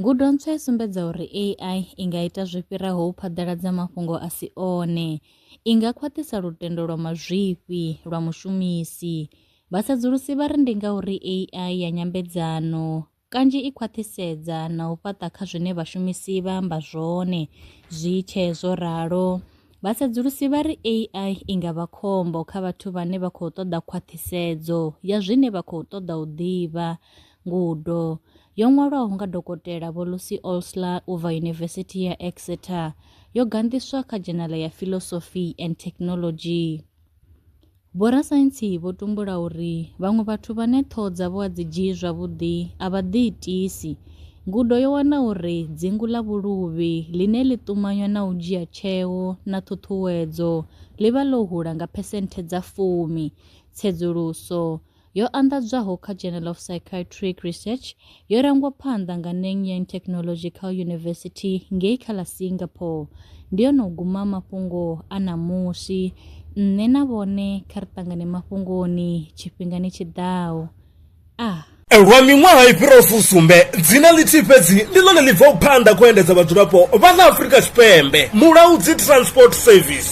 Ngudo ntswa i sumbedza uri AI i nga ita zwi fhiraho u phaḓaladza mafhungo a si one. I nga khwaṱhisa lutendo lwa mazwifhi lwa mushumisi. Vhasedzulusi vha ri ndi ngauri AI ya nyambedzano kanzhi i khwaṱhisedza na u fhaṱa kha zwine vhashumisi vha amba zwone. Zwi tshee zwo ralo, vhasedzulusi vha ri AI i nga vha khombo kha vhathu vhane vha khou ṱoḓa khwaṱhisedzo ya zwine vha khou ṱoḓa u ḓivha, ngudo, yo ṅwalwaho nga Dokotela Vho Lucy Olsler u bva Yunivesithi ya Exeter yo ganḓiswa kha dzhenala ya Philosophy and Technology. Vhorasaintsi vho tumbula uri vhaṅwe vhathu vhane ṱhoho dzavho a dzi dzhii zwavhuḓi a vha ḓiitisi. Ngudo yo wana uri dzingu ḽa vhuluvhi, ḽine ḽi ṱumanywa na u dzhia tsheo na ṱhuṱhuwedzo, ḽi vha ḽo hula nga phesenthe dza fumi. Tsedzuluso yo anḓadzwaho kha Journal of Psychiatric Research yo rangwa phanḓa nga Neng Yang Technological University ngei kha ḽa Singapore. Ndi yone u guma mafhungo a ṋamusi. Nṋe na vhone kha ri ṱangane mafhungoni tshifhingani tshi ḓaho. Ah. Lwa miṅwaha i fhiraho fusumbe, dzina ḽithihi fhedzi ndi ḽone ḽi bvaho phanḓa khou endedza vhadzulapo vha ḽa Afrika Tshipembe, Mulaudzi Transport Service.